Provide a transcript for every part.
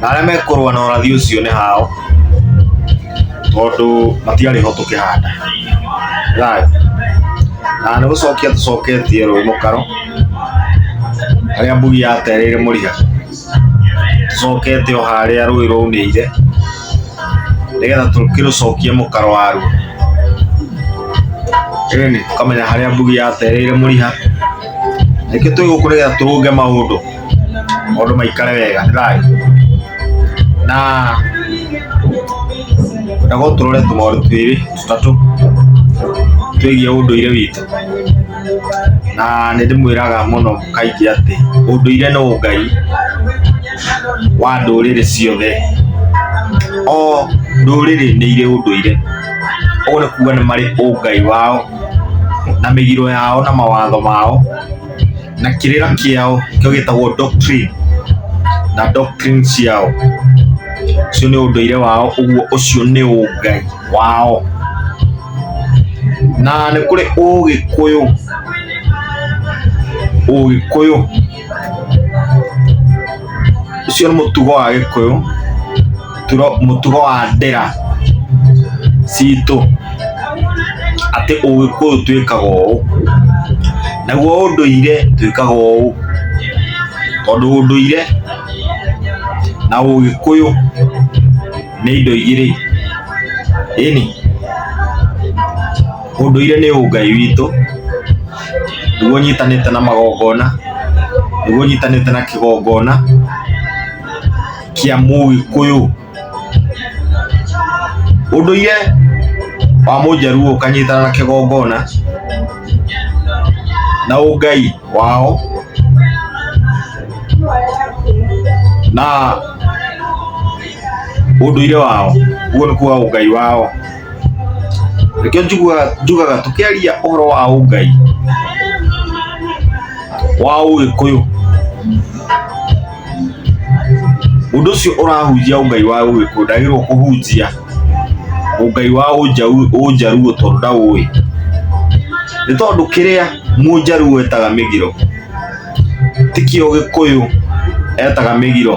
na arĩa mekũrũa na ũrathi ũcio nĩ hao tondũ matiarĩ ho tũkĩhanda thayũ na nĩ gũcokia tũcoketie rũĩ mũkaro harĩa mbugi yaterĩire mũriga tũcokete o harĩa rũĩ rwaunĩire nĩgetha tũkĩrũcokie mũkaro waruo ĩni tũkamenya harĩa mbugi yaterĩire mũriha nĩkĩ twĩ gũkũ nĩgetha tũrũnge maũndũ maũndũ maikare wega nĩ thayũ na na gũkũ tũrore tũmaũndũ twĩrĩ tũtatũ twĩgiĩ ũndũire witũ na nĩ ndĩmwĩraga mũno kaingĩ atĩ ũndũire nĩ ũngai wa ndũrĩrĩ ciothe o ndũrĩrĩ nĩ irĩ ũndũire ũguo nĩ kuga nĩ marĩ ũngai wao na mĩgiro yao na mawatho mao na kĩrĩra kĩao kĩo gĩtagwo doctrine na doctrine ciao ũcio nĩ ũndũire wao ũguo ũcio nĩ ũngai wao na nĩ kũrĩ ũgĩkũyũ ũgĩkũyũ ũcio nĩ mũtugo wa gĩkũyũ turo- mũtugo wa ndera citũ atĩ ũgĩkũyũ twĩkaga ũũ naguo ũndũire twĩkaga ũũ tondũ ũndũire na ũgĩkũyũ nĩ indo igĩrĩ ĩni ũndũire nĩ ũngai witũ nĩguo ũnyitanĩte na magongona, nĩguo ũnyitanĩte na kĩgongona kĩa mũgĩkũyũ. Ũndũire wa mũjaluo ũkanyitana na kĩgongona na ũngai wao na ũndũire wao, ũguo nĩ kuga ũngai wao. Nĩkĩo njugaga tũkĩaria ũhoro wa ũngai wa ũgĩkũyũ, mũndũ ũcio ũrahunjia ũngai wa ũgĩkũyũ ndagĩrĩirwo kũhunjia ũngai wa ũnjaruo tondũ ndaũĩ. Nĩ tondũ kĩrĩa mũnjaruo etaga mĩgiro tikĩo gĩkũyũ etaga mĩgiro.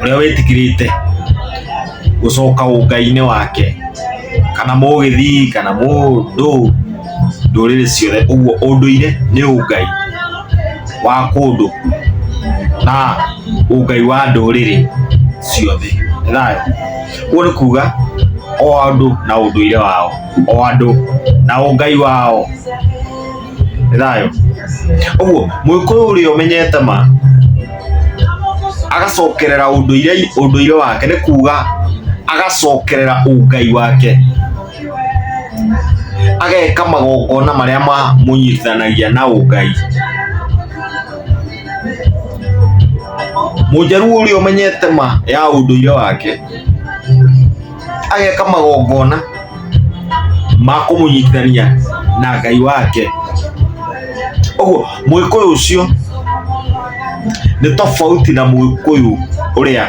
ũrĩa wĩtĩkĩrĩte gũcoka ũngai-inĩ wake kana mũgĩthii kana mũndũ ndũrĩrĩ ciothe ũguo ũndũire nĩ ũngai wa kũndũ na ũngai wa ndũrĩrĩ ciothe nĩ thayũ ũguo nĩ kuga o andũ na ũndũire wao o andũ na ũngai wao thayo ũguo mũgĩkũyũ ũrĩa ũmenyete ma agacokerera ũndũire ũndũire wake nĩ kuga agacokerera ũngai wake ageka magongona marĩa mamũnyitithanagia na ũngai mũnjaruo ũrĩa ũmenyete ma ya ũndũire wake ageka magongona ma kũmũnyitithania na ngai wake ũguo mũgĩkũyũ ũcio nĩ tofauti na mũgĩkũyũ ũrĩa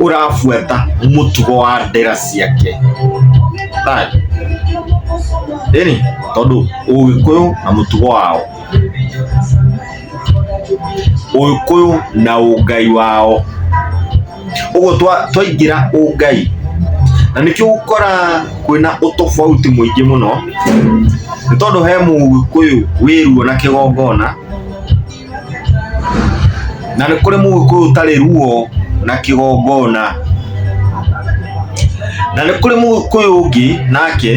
ũrabuata mũtugo wa ndera ciake ĩni tondũ ũgĩkũyũ na mũtugo wao ũgĩkũyũ na ũngai wao ũguo twa- twaingĩra ũngai na nĩkĩo gũkora kwĩna ũtofauti mũingĩ mũno nĩ tondũ he mũgĩkũyũ wĩruo na kĩgongona na nĩ kũrĩ mũgĩkũyũ ũtarĩ ruo na kĩgongona na nĩ kũrĩ mũgĩkũyũ ũngĩ nake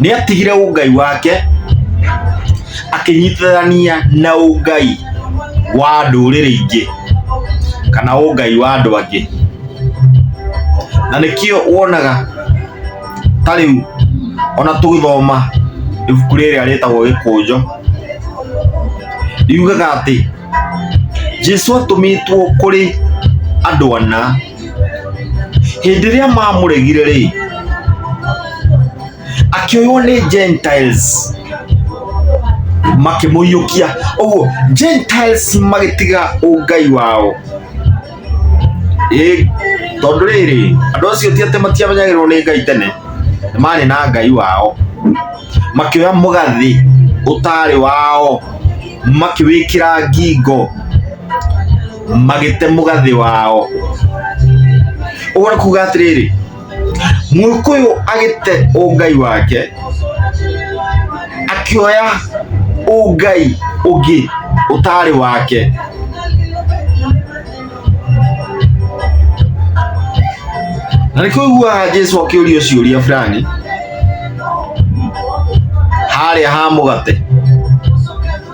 nĩ atigire ũngai wake akĩnyitithania na ũngai wa ndũrĩrĩ ingĩ kana ũngai wa andũ angĩ na nĩkĩo wonaga ta rĩu ona tũgĩthoma ibuku rĩrĩa rĩtagwo gĩkũnjo riugaga atĩ jesu atũmĩtwo kũrĩ andũ ana hĩndĩ ĩrĩa mamũregire rĩ akĩoywo nĩ gentiles makĩmũiyũkia ũguo gentiles magĩtiga ũngai wao Ĩ, tondũ rĩrĩ andũ acio ti atĩ matiamenyagĩrwo nĩ ngai tene nĩ marĩ na ngai wao makĩoya mũgathĩ ũtarĩ wao makĩwĩkĩra ngingo magĩte mũgathĩ wao ũguo nĩ kuga atĩrĩrĩ mũkũyũ agĩte ũngai wake akĩoya ũngai ũngĩ ũtarĩ wake na nĩkĩo ũiguaga jesu akĩũrio ciũria fulani harĩa ha mũgate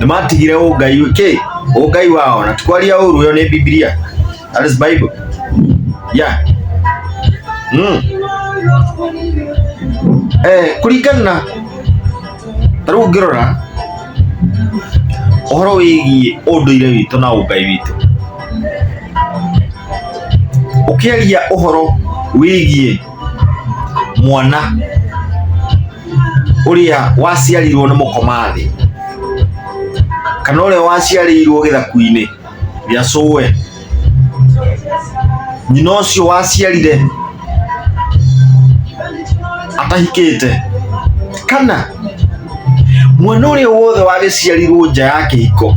nĩ matigire ũngai kĩ ũngai wao na tikwaria ũru ũyo nĩ bibilia that is bible yeah mm. eh, kũringana na ta rĩu ngĩrora ũhoro wĩgiĩ ũndũire witũ na ũngai witũ ũkĩaria ũhoro wĩgiĩ mwana ũrĩa waciarirwo nĩ mũkomathĩ kana ũrĩa waciarĩirwo gĩthaku-inĩ gĩa cũwe nyina ũcio waciarire atahikĩte kana mwana ũrĩa wothe wagĩciarirwo nja ya kĩhiko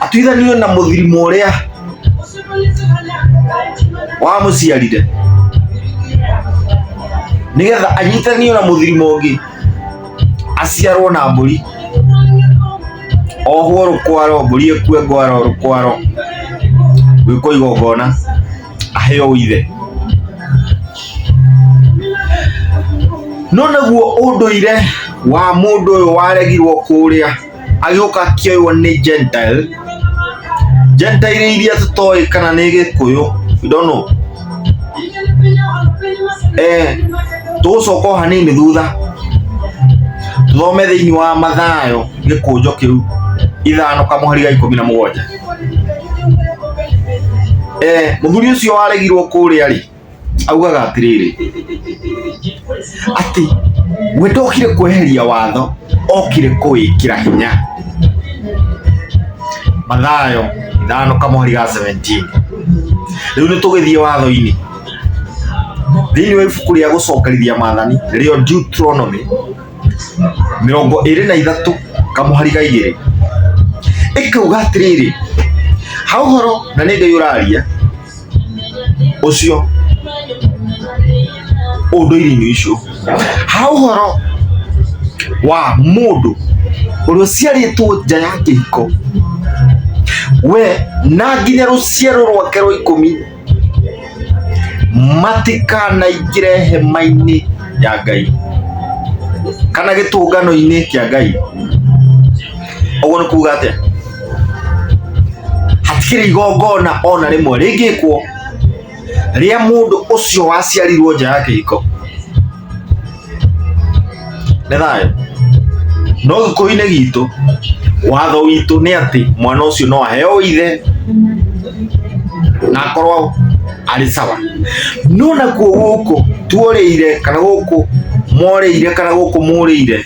atuithanio na mũthirimo ũrĩa wamũciarire nĩgetha anyitanio na mũthirimo ũngĩ aciarwo na mbũri ohwo rũkwaro mbũri ĩkue ngwaro rũkwaro gwĩkwo igongona aheo ithe no naguo ũndũire wa mũndũ ũyũ waregirwo kũrĩa agĩũka akĩoywo nĩ gentile gentile iria tũtoĩ kana nĩ gĩkũyũ you don't know eh tũgũcoka o hanini thutha thome thĩinĩ wa mathayo gĩkũnjo kĩu ithano kamũhari ga ikũmi na mũgwanja eh mũthuri ũcio waregirwo kũrĩa rĩ augaga atĩrĩrĩ atĩ we ndokire kweheria watho okire kũwĩkĩra hinya mathayo ithano kamweri ga 17 rĩu nĩ tũgĩthiĩ watho-inĩ thĩinĩ wa ibuku rĩa gũcokerithia maathani nĩrĩo Deuteronomy mĩrongo ĩrĩ na ithatũ kamũhari ga igĩrĩ ĩkauga atĩrĩrĩ ha ũhoro na nĩ ndĩũraria ũcio ũndũire-inĩ ũcio ha ũhoro wa mũndũ ũrĩa ũciarĩtwo nja ya kĩhiko we na nginya rũciaro rwake rwa ikũmi matikanaingĩre hema-inĩ ya Ngai kana gĩtũngano-inĩ kĩa Ngai. ũguo nĩ kuuga atĩa hatikĩrĩ igongona ona rĩmwe rĩngĩkwo rĩa mũndũ ũcio waciarirwo nja ya kĩhiko nĩ thayũ no gĩkũyũ-inĩ gitũ watho witũ nĩ atĩ mwana ũcio no aheo ithe na akorwo arĩ sawa no nakuo gũkũ tuorĩire kana gũkũ morĩire kana gũkũ mũrĩire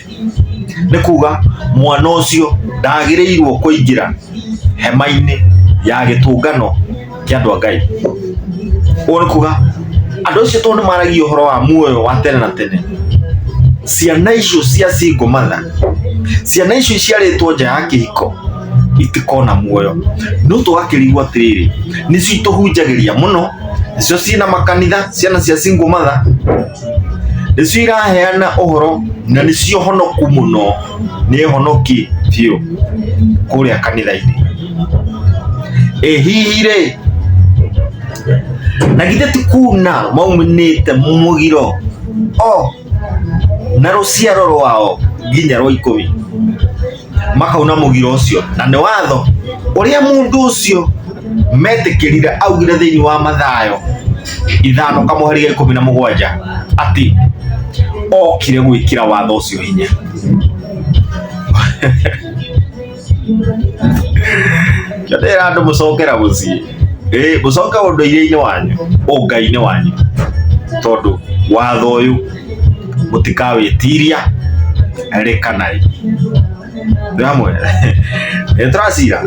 nä kuga mwana å cio ndagä rä irwo kå ingä ra hema-inä ya gä tå ngano kä andå a ngai å nä kuga andå acio tondå nä maragia å horo wa muoyo wa tene na tene ciana icio cia single mother ciana icio iciarĩtwo nja ya kĩhiko itikona muoyo no tũgakĩrigwo atĩrĩrĩ nĩcio itũhunjagĩria mũno nĩcio ciĩna makanitha ciana cia single mother nĩcio iraheana ũhoro na nĩcio honoku mũno nĩ honoki biũ kũrĩa kanitha-inĩ ĩ hihi rĩ na githĩ ti kuna maumanĩte mũgiro o na rũciaro rwao nginya rwa ikũmi makauna mugira ucio na ni watho uria mundu ucio metikirire augire thiini wa mathayo ithano kamuhari ga ikumi na mugwanja ati okire gwikira watho ucio hinya kio ndira andu mucokera mucii ĩ mucoke undu-ire-ini wanyu ungai-ini wanyu tondu watho uyu mũtikawĩtiria rĩ kana rĩ ndamwe nĩ tũracira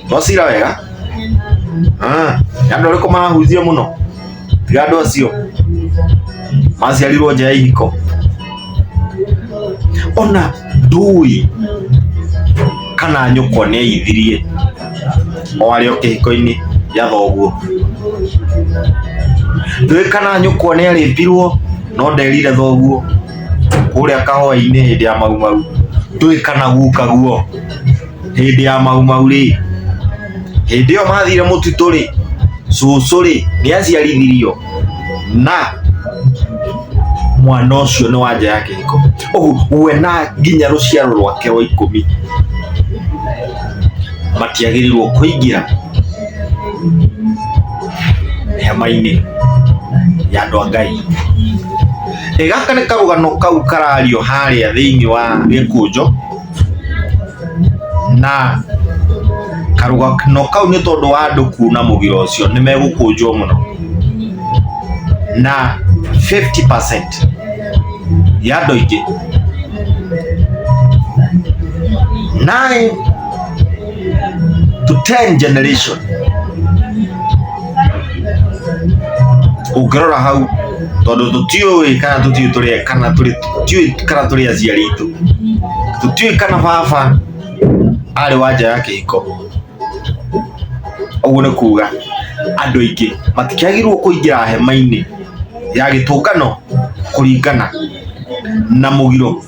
twacira wega Ah, nĩ andũ arĩkũ marahunjia mũno tiga andũ acio maciarirwo nja ya ihiko ona ndũĩ kana nyũkwa nĩ aithirie o arĩ o kĩhiko-inĩ gĩa thoguo ndũĩ kana nyũkwa nĩ arĩmbirwo no nderire thoguo kũrĩa kahũa-inĩ hĩndĩ ya maumau ndũĩ kana guka guo hĩndĩ ya maumau rĩ hĩndĩ ĩyo mathire mũtitũ rĩ cũcũ rĩ nĩ aciarithirio na mwana ũcio nĩ wanja yake iko ũguo we na nginya rũciaro rwake rwa ikũmi matiagĩrĩirwo kũingĩra hema-inĩ ya andũ a ngai Ĩ gaka nĩ karũgano kau karario harĩa thĩinĩ wa gĩkũnjo na karũgano kau nĩ tondũ wa andũ kuuna mũgira ũcio nĩ megũkũnjwo mũno na 50% ya andũ aingĩ nine to 10 generation ũngĩrora hau tondũ tũtiũĩ kana tũtiũĩ tũrĩ kana tũrĩ tũtiũĩ kana tũrĩ aciari itũ tũtiũĩ kana baba arĩ wa nja ya kĩhiko ũguo nĩ kuga andũ aingĩ matikĩagĩrĩirwo kũingĩra hema-inĩ ya gĩtũngano kũringana na mũgiro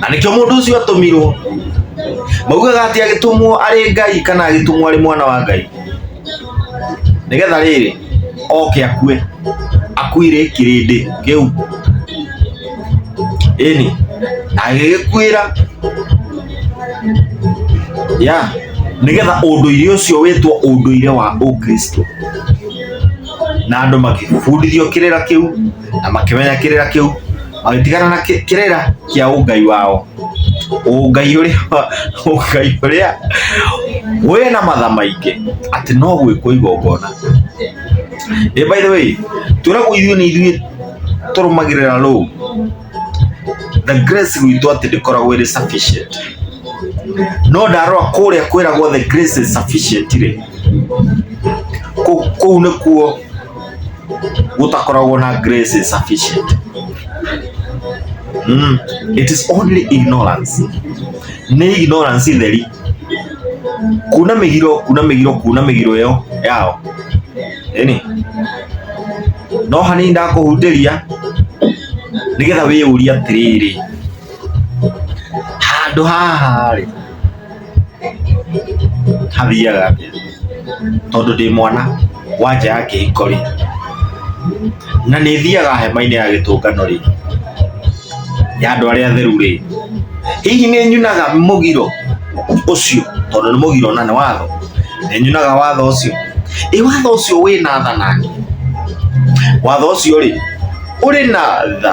na nĩkĩo mũndũ ũcio atũmirwo maugaga atĩ agĩtũmwo arĩ ngai kana agĩtũmwo arĩ mwana wa ngai nĩgetha rĩrĩ oke akue akuire kĩrĩndĩ kĩu ĩni na agĩgĩkuĩra ya nĩgetha ũndũire ũcio wĩtwo ũndũire wa ũkristo na andũ makĩbundithio kĩrĩra kĩu na makĩmenya kĩrĩra kĩu magĩtigana na kĩ- kĩrĩra kĩa ũngai wao ũngai ũrĩa ũngai ũrĩa wĩ na matha maingĩ atĩ no gwĩkwo igongona ĩ by the way tũragwo ithuĩ nĩ ithuĩ tũrũmagĩrĩra rũu the grace gwitũ atĩ ndĩkoragwo ĩrĩ sufficient no ndarora kũrĩa kwĩragwo the grace is sufficient rĩ kũ- kũu nĩkuo gũtakoragwo na grace sufficient mm. it is only ignorance nĩ ignorance theri kuna mĩgiro kuna mĩgiro kuna mĩgiro ĩyo yao ĩni no hanini ndakũhutĩria nĩgetha wĩyũria atĩrĩrĩ handũ haha rĩ hathiaga atĩa tondũ ndĩ mwana wa nja ya kĩhiko rĩ na nĩ thiaga hema-inĩ ya gĩtũngano rĩ ya andũ arĩa atheru rĩ hihi nĩ nyunaga mũgiro ũcio tondũ nĩ mũgiro na nĩ watho nĩ nyunaga watho ũcio ĩ watho ũcio wĩ na tha nake watho ũcio rĩ ũrĩ na tha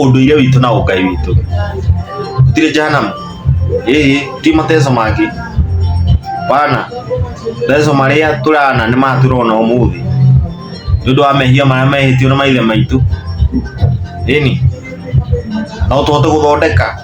ũndũire witũ na ũngai witũ tirĩ jahanamu ĩĩ ti mateso mangĩ bana mateso marĩa tũrana nĩ maya tũrona ũmũthĩ nĩ ũndũ wa mehia marĩa mehĩtio nĩ maithe maitũ ĩni no tũhote gũthondeka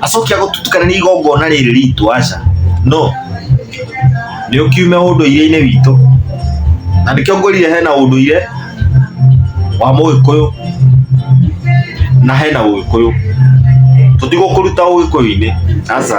acoke agũtutukanĩria igongona rĩrĩ ritũ aca no nĩ ũkiume ũndũire-inĩ witũ na nĩkĩo ngwĩrire hena ũndũire wa mũgĩkũyũ na hena ũgĩkũyũ tũtigũkũruta ũgĩkũyũ-inĩ aca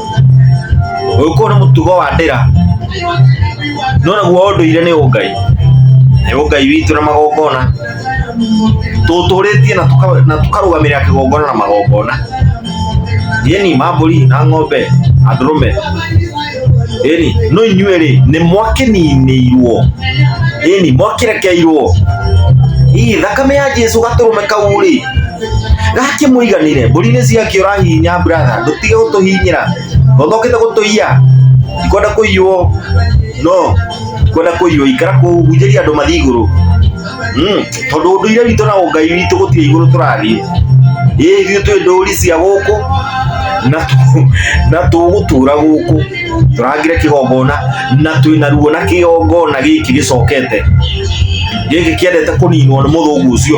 uyu kuu ni mutugo wa ndira no naguo unduire ni ungai ni ungai witu na magongona tuturitie na tuka- na tukarugamirira kigongona na magongona yeni mamburi na ng'ombe na ndurume yeni no inyuĩ rĩ nĩ mwakininĩirwo yeni mwakirekeirwo ii thakame ya jesu gatũrũme kau rĩ gake muiganire mburi ni ciakiura hinya brother ndutige gutuhinyira ndothokite gutuiya ndikwenda kuiywo no ndikwenda kuiywo ikara kuhunjĩria andũ mathiĩ igũrũ Mm, tondũ ũndũire witũ na ũngai witũ gũtirĩ igũrũ tũrathiĩ ĩ ithuĩ twĩ ndũri cia gũkũ na tũ- na tũgũtũra gũkũ tũrangire kĩgongona na twĩna ruo na kĩgongona gĩkĩ gĩcokete gĩkĩ kĩendete kũninwo nĩ mũthũngũ ũcio